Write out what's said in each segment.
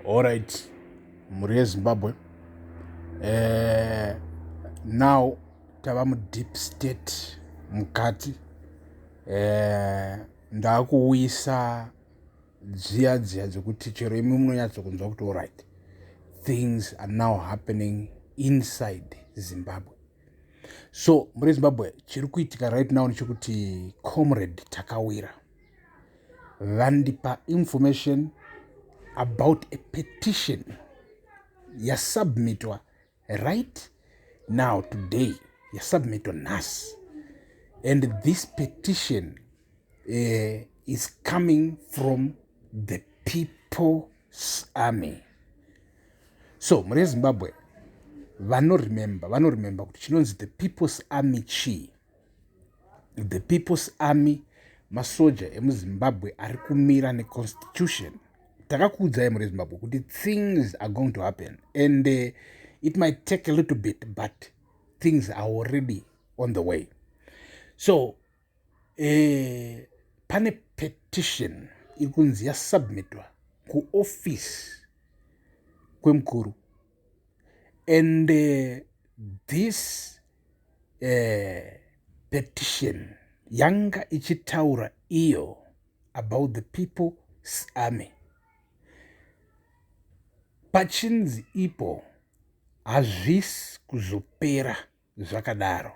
Alright, mhuri yeZimbabwe. Eh, now tava mudeep state mukati. Eh, ndakuuyisa dziya dziya dzekuti chero imwe munonyatsokunzwa kuti alright. Things are now happening inside Zimbabwe. So, mhuri yeZimbabwe, chiri kuitika right now nechekuti Comrade Takawira. vandipa information about a petition yasubmitwa right now today yasubmitwa nhasi and this petition uh, is coming from the people's army so mune zimbabwe vanoremember vanoremember kuti chinonzi the people's army chii the people's army masoja emuzimbabwe ari kumira neconstitution takakuudzai muri zimbabwe kuti things are going to happen and uh, it might take a little bit but things are already on the way so eh, pane petition iri kunzi yasubmitwa kuoffice kwemukuru and uh, this uh, petition yanga ichitaura iyo about the people's army pachinzi ipo hazvisi kuzopera zvakadaro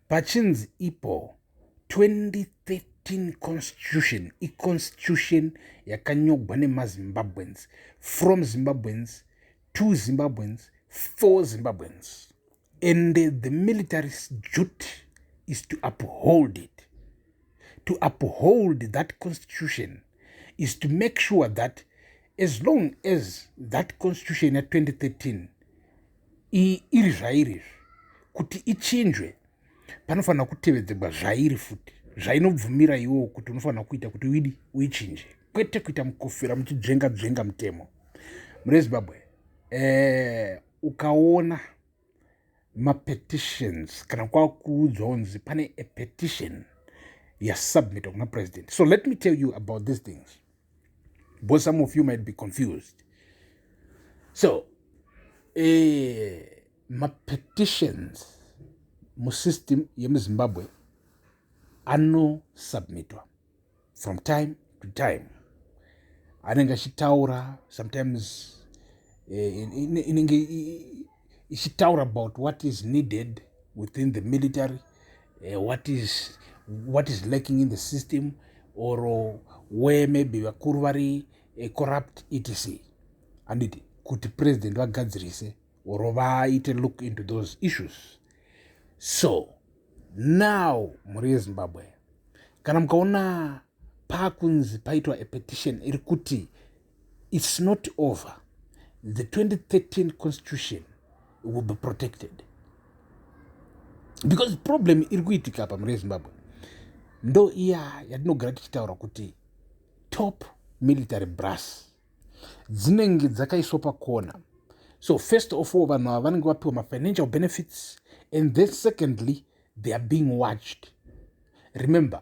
pachinzi ipo 2013 constitution iconstitution yakanyogwa nemazimbabweans from zimbabweans to zimbabweans for zimbabweans and the military duty is to uphold it to uphold that constitution is to make sure that as long as that constitution ya 2013 iyi iri zvairi izvi kuti ichinjwe panofanira kutevedzegwa zvairi futi zvainobvumira iwowo kuti unofanira kuita kuti uidi uichinje kwete kuita mukofera muchidzvenga dzvenga mutemo mune zimbabwe eh, ukaona mapetitions kana kwakuudzwa kunzi pane a petition yasubmitwa kuna president so let me tell you about these things because some of you might be confused so eh, mapetitions musystem yemuzimbabwe anosubmitwa from time to time anenge achitaura sometimes eh, inenge ichitaura about what is needed within the military uh, what is what is lacking in the system or uh, where maybe vakuru vari uh, corrupt etc handiti kuti president vagadzirise or vaite look into those issues so now mhuri yezimbabwe kana mukaona pakunzi paitwa apetition iri kuti It's not over. The 2013 constitution will be protected. Because problem iri kuitika apa mune Zimbabwe ndo iya yatinogara tichitaura kuti top military brass dzinenge dzakaiswa pakona so first of all vanhu ava vanenge vapiwa mafinancial benefits and then secondly they are being watched remember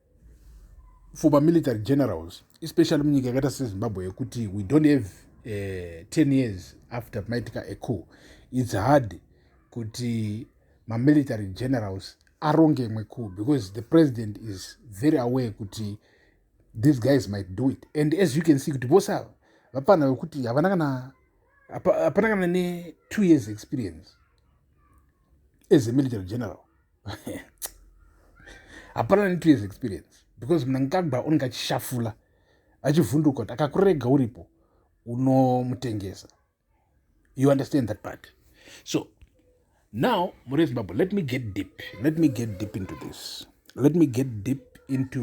for mamilitary generals especially munyika yakaita sezimbabwe yekuti we don't have uh, eh, 10 years after maitika eco its hard kuti mamilitary generals aronge imwe coup because the president is very aware kuti these guys might do it and as you can see kuti vose ava vapana vekuti havana kana hapana kana ne two years experience as a military general hapana ne two years experience because mnangagwa unenge achishafula achivhunduka kuti akakurega uripo unomutengesa you understand that part so now mure zimbabwe let me get deep let me get deep into this let me get deep into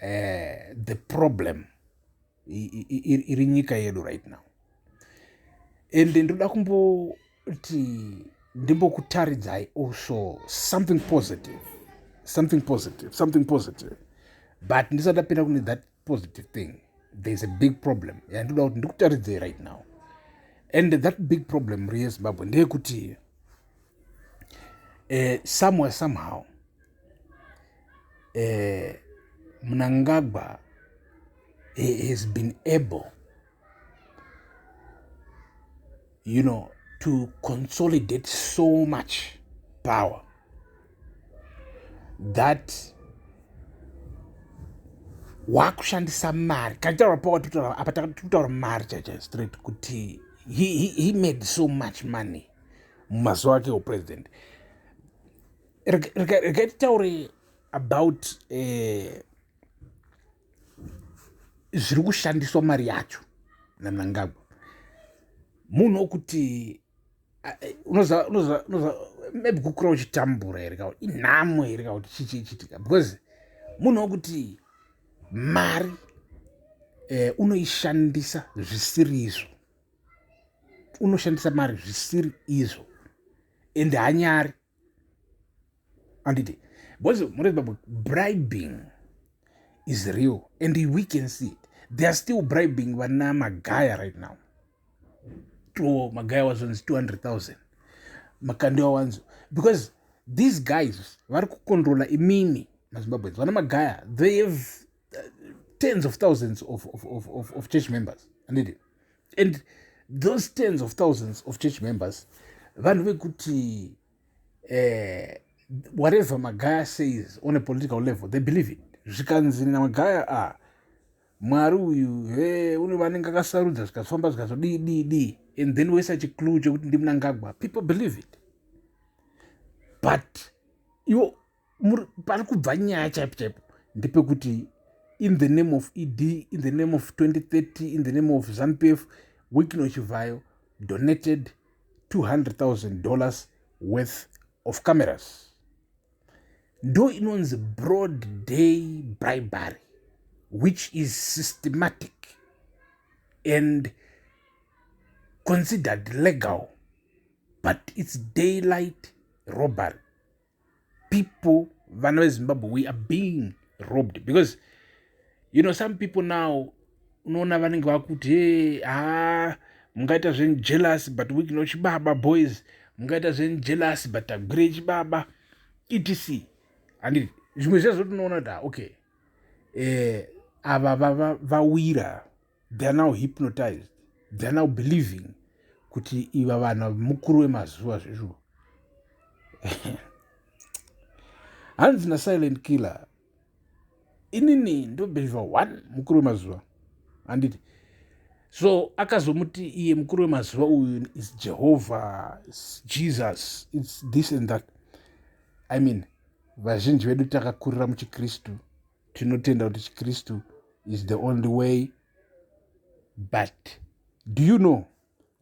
uh, the problem iri nyika yedu right now ende ndoda kumboti ndimbokutaridzai also something positive something positive something positive but ndisati apinda kune that positive thing there's a big problem yandoda kuti ndikutaridzei right now and that big problem reyezimbabwe ndeyekuti eh, somewhere somehow eh, mnangagwa he has been able you know to consolidate so much power that wakushandisa mari kataura power tutaura apa takutaura mari chacha straight kuti he, he, he made so much money mumazuva ake upresident rega titaure about uh, zviri kushandiswa mari yacho nanangagwa munhu wokuti maybe kukura uchitambura here ka inhamo here ka kuti chii chii chitika because munhu wokuti mari eh, unoishandisa zvisiri izvo unoshandisa mari zvisiri izvo ende hanyari handiti because murezimbabwe bribing is real and we can see it they are still bribing vana magaya right now to magaya wazonzi 200000 makandi wawanzo because these guys vari kukontrola imimi mazimbabweans vana magaya they have uh, tens of thousands of, of, of, of, of church members handiti and those tens of thousands of church members vanhu vekuti eh, whatever magaya says on a political level they believe it zvikanzi namagaya a ah, mwari uyu he une vanenge akasarudza zvikazofamba zvikazodii dii dii and then woisa chiclue chekuti ndimunangagwa people believe it but iwo pari kubva nyaya chaipo chaipo ndepekuti in the name of ed in the name of 2030 in the name of zanupf wikino chivhayo donated 200000 dollars worth of cameras ndo inonzi broad day bribery which is systematic and considered legal but its daylight robbery people vana vezimbabwe we are being robbed because you know some people now unoona vanenge vakuti he haa mungaita zven jealous but wikno chibaba boys mungaita zven jealous but agwire chibaba etc handi zvimwe zvezvo tinoona kuti okay eh, ava vawira va, va they are now hypnotized they are now believing kuti iva vanhu mukuru wemazuva zvezvo hanzi nasilent killer inini ndobhevha one mukuru wemazuva handiti so akazomuti iye mukuru wemazuva uyu is jehovha is jesus its this and that i mean vazhinji vedu takakurira muchikristu tinotenda kuti chikristu is the only way but do you know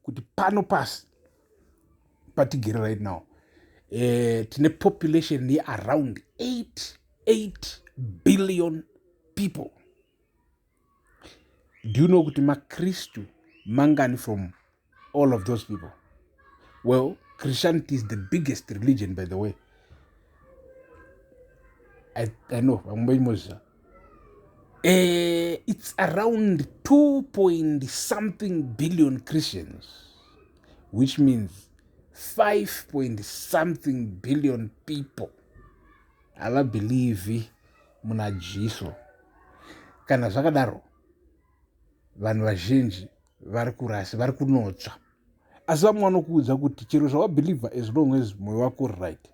kuti pano pasi patigere right now eh, tine population yearound 88 billion people do you know kuti makristu mangani from all of those people well christianity is the biggest religion by the way i, I know vamwe vaimozviza uh, eh, it's around 2 point something billion christians which means 5 point something billion people havabhelievhi muna Jesu. Kana zvakadaro, vanhu vazhinji vari kurasi, vari kunotsva. Asi vamwe vanokuudza kuti chero zvawabhilivha as long as moyo wako uri right,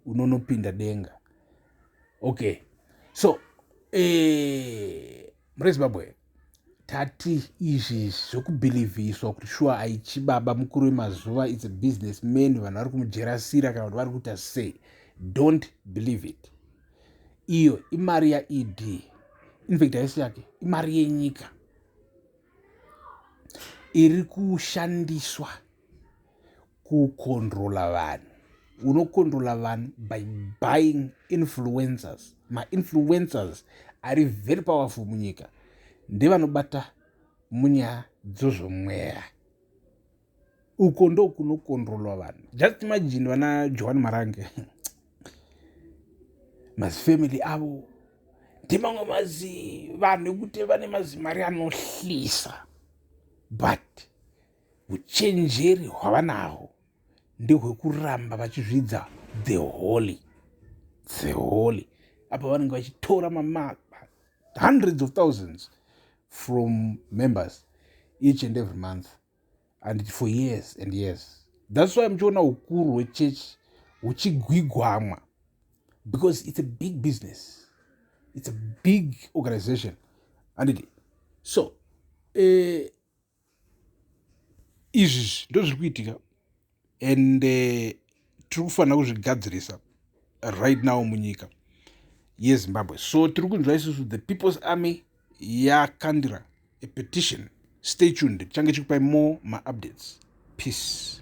unonopinda denga. Okay, so eh, mune Zimbabwe tati izvi zvekubhilivhiswa kuti shuwa aichi baba mukuru wemazuva its a business man vanhu vari kumujerasira kana kuti vari kuita sei don't believe it iyo imari yaed infact haisi yake imari yenyika iri kushandiswa kucontrola vanhu unocontrola vanhu by buying influencers mainfluencers ari very powerful munyika ndevanobata munyaya dzozvomweya uko ndokunocontrola vanhu just imagine vana johani marange mazifamily avo ndimamwe mazi vanhu ekuti vane mazimari anohlisa but Uchenjeri hwavanahwo ndehwekuramba vachizvidza the holy the holy apa vanenge vachitora mama hundreds of thousands from members each and every month and for years and years thats why muchiona ukuru hwechechi huchigwigwamwa because it's a big business it's a big organization andidi so eh, izvi ndozviri kuitika and eh, tiri kufanira kuzvigadzirisa right now munyika yezimbabwe so tiri kunzwa isusu the people's army yakandira a petition stay tuned tichange chikupai more maupdates peace